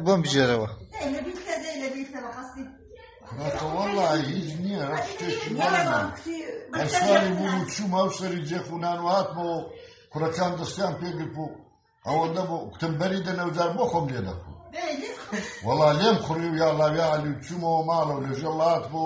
بۆم بژێرەوە والله هیچ نییە ئەسوانی بوو چووم ئەو سەری جێخونان و هاتمەوە کوڕەکان دەستیان پێگرپ و ئەوە نەبوو کتمبەری دەنەوجار بۆ خۆم لێ دەکو وڵا لێم خوڕی و یاڵاویا علی چوومەوە ماڵەوە لەژە وڵات بۆ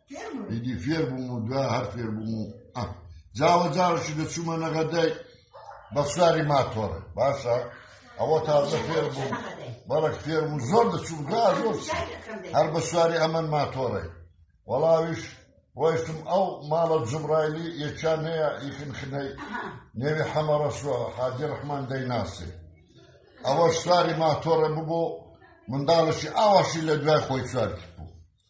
ئیدی فێر بووم و دوا هەر فێر بووم و جاوە جاوشی دەچوومە نەغەدای بەخساری ماتۆڕ باشە ئەوە تازە فێر بووم بەڵک فێر و زۆر دەچوو دا زۆر هەر بە سواری ئەمەن ماتۆڕی وەڵاویش ڕۆیشتم ئەو ماڵە جبرایلی یەکیان هەیە یخن خنەی نێوی حەمەڕەسوە حاجی ڕحمان دەیناسێ ئەوە سواری ماتۆڕە ببوو منداڵشی ئاواشی لە دوای خۆی سوارکی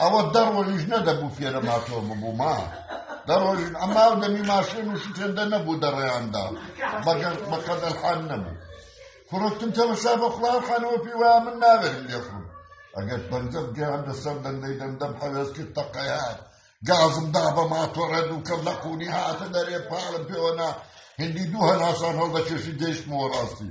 ئەوە دە ڕۆژیش نەدەبوو فێرە ماتۆ ببووما دە ڕۆژ ئەما و دەمی ماشێن و شتێندە نەبوو دەڕێیاندا بەگەر بەقەد ئەلحان نەبوو کوڕکتم تەمەشا بە خڵاو خانەوە پێی وایە من ناوێرم لێخڕم ئەگەر پەنجەم گەیان لەسەر دەندەی دەندەم حەوێز کرد تەقەیان گازم دا بە ماتۆڕە دووکەم لە قوونی هاتە دەرێ پاڵم پێوەنا هندی دوو هەناسان هەڵدەکێشی گەیشتمەوە ڕاستی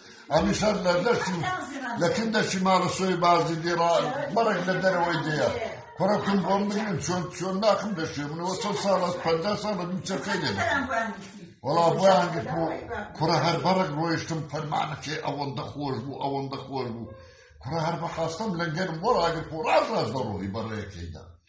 ئەمیشە لە دەشتی لە کن دەشتی ماڵە سۆی بازی دیڕا بەڕێک لە دەرەوەی دەیە کوڕەکەم بۆم بگرن چۆن چۆن ناخم دەشێ منەوە چەند ساڵ ئەس پەنجا ساڵ بە دوو چەکەی لێ وەڵا بۆیان گرت بۆ کوڕە هەر بەڕێک ڕۆیشتم فەرمانەکەی ئەوەندە خۆش بوو ئەوەندە خۆش بوو کوڕە هەر بەخواستم لە گەرم بۆ ڕاگرت بۆ ڕاز ڕاز بە ڕۆحی بەڕێەکەیدا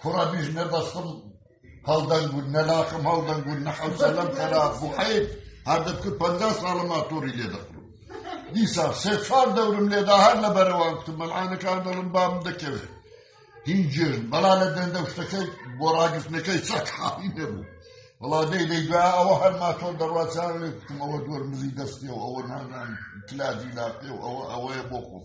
کوڕە بیژ نە بەستم هەڵدەنگ بوون نە لاقم هەڵدەنگ بوون نە حەوسەلەم خەراپ بوو حەیب هەر دەتکرد پەنجا ساڵە ماتۆری لێ دەخرم دیسا سێ چوار دەورم لێدا هەر لە بەرەوان کوتم مەلعانەکان دەڵم بام دەکەوێت هین جێژ بەڵا لە دەندە شتەکەی بۆ ڕاگرتنەکەی چەک حاڵی نەبوو وڵا دەی دەی دوای ئەوە هەر ماتۆر دەڕوازان لێ کوتم ئەوە دوەر مزی دەستیەوە ئەوە نازان کلاجی لاپێ و ئەوە ئەوەیە بۆ خۆم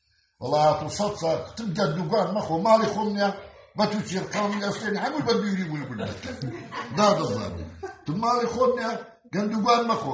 وەڵا هاتو سەد ساڵ تم گەردوگان مەخۆ ماڵی خۆم نیە بە تو چێرقامی ئەستێن هەموو بە بیوری بووی بوون دادەزانێ تو ماڵی خۆم نیە گەندوگان مەخۆ